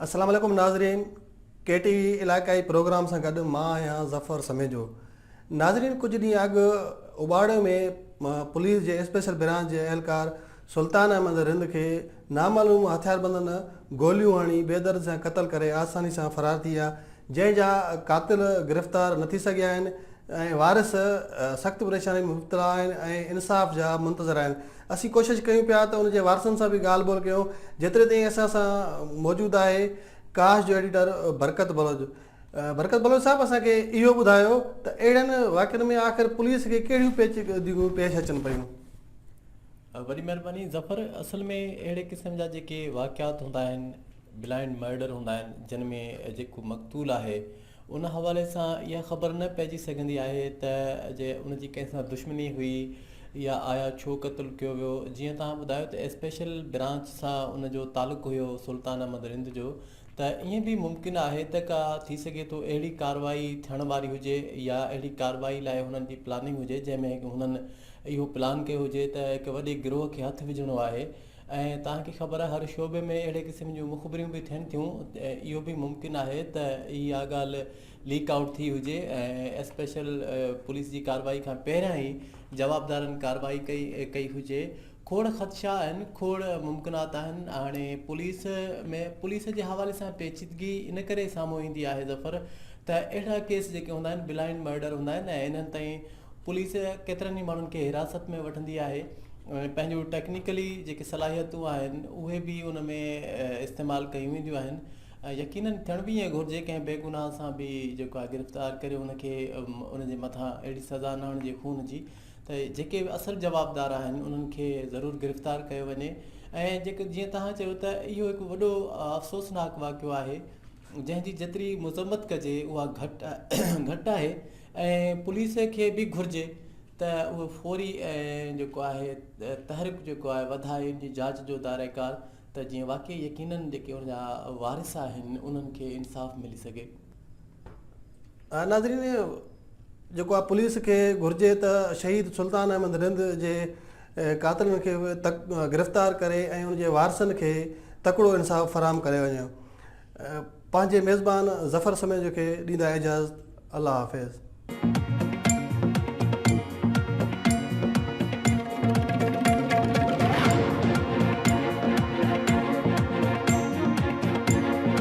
السلام عليڪم ناظرين ڪي ٽي وي علائقائي پروگرام سان گڏ مان آهيان ظفر سميجو ناظرين ڪجهه ڏينهن اڳ اباڙي ۾ پوليس جي اسپيشل برانچ جي اهلڪار سلطان احمد رند کي نامعلوم هٿياربندن گوليون هڻي بيدرد سان قتل ڪري آساني سان فرار ٿي ويا جنهن جا قاتل گرفتار نه ٿي سگهيا آهن ۽ وارث سخت پريشانين ۾ مبتلا آهن ۽ انصاف جا منتظر آهن اسين ڪوشش ڪيون پيا ته ان جي وارثن سان به ڳالهه ٻولهه ڪيون جيتري تائين اسان سان موجود آهي ڪاش جو ايڊيٽر برڪت بلوچ برڪت بلوچ صاحب اسان کي اهو ٻڌايو ته اهڙن واقعن ۾ آخر پوليس کي ڪهڙيون پيچيدگيون پيش اچن پيون وڏي مھرباني ظفر اصل ۾ اھڙي قسم جا جيڪي واقعات ھوندا آھن بلائنڊ مئرڊر ھوندا آھن جن ۾ جيڪو مقتول آھي ان حوالي سان اھا خبر نه پئجي سگھندي آھي ته جي ان جي ڪنھن سان دشمني ھئي يا آيا ڇو قتل ڪيو ويو جيئن توھان ٻڌايو ته اسپيشل برانچ سان ان جو تعلق ھيو سلطان احمد رند جو ته ائين به ممڪن آھي ته ڪا ٿي سگھي ٿو اھڙي ڪاروائي ٿيڻ واري ھجي يا اھڙي ڪاروائي لاء ھنن جي پلاننگ ھجي جنھن ۾ ھنن اهو پلان ڪيو هجي ته هڪ وڏي گروهه کي هٿ وجهڻو آهي ۽ توهان کي خبر آهي هر شعبي ۾ اهڙي قسم جون مخبريون به ٿين ٿيون اهو به ممڪن آهي ته اها ڳالهه ليڪ آئوٽ ٿي هجي ۽ اسپيشل پوليس جي ڪارروائي کان پهريان ئي جوابدارن ڪارروائي ڪئي هجي کوڙ خدشا آهن کوڙ ممڪنات آهن هاڻي پوليس ۾ پوليس جي حوالي سان پيچيدگي ان ڪري سامهون ايندي آهي ظفر ته اهڙا ڪيس جيڪي هوندا آهن بلائنڊ مرڊر هوندا آهن ۽ انهن تائين پوليس ڪيترن ئي ماڻهن کي حراست ۾ وٺندي آهي ۽ پنهنجون ٽيڪنيڪلي جيڪي صلاحيتون آهن اهي به ان ۾ استعمال ڪيون وينديون آهن ۽ يقيناً ٿيڻ به ائين گهرجي ڪنهن بي گناهه سان به جيڪو آهي گرفتار ڪري ان کي ان جي مٿان اهڙي سزا نه هڻجي خون جي ته جيڪي به اصل جوابدار آهن انهن کي ضرور گرفتار ڪيو وڃي ۽ جيڪو جيئن توهان چيو ته اهو هڪ وڏو افسوسناڪ واقعو آهي جنهن جي جيتري مذمت ڪجي اها گهٽ گهٽ آهي ۽ پوليس کي به گهرجي ته اهو فوري ۽ جيڪو آهي تحرڪ جيڪو آهي وڌائي ان جي جاچ جو دائره ڪار ته جيئن واقعي يقينا جيڪي ان جا وارث آهن انهن کي انصاف ملي سگهي. ناظرين جيڪو آهي پوليس کي گهرجي ته شهيد سلطان احمد رند جي قاتلن کي گرفتار ڪري ۽ ان جي وارثن کي تڪڙو انصاف فراهم ڪري وڃي. پنهنجي ميزبان ظفر سميجو کي ڏيندا اجازت الله حافظ.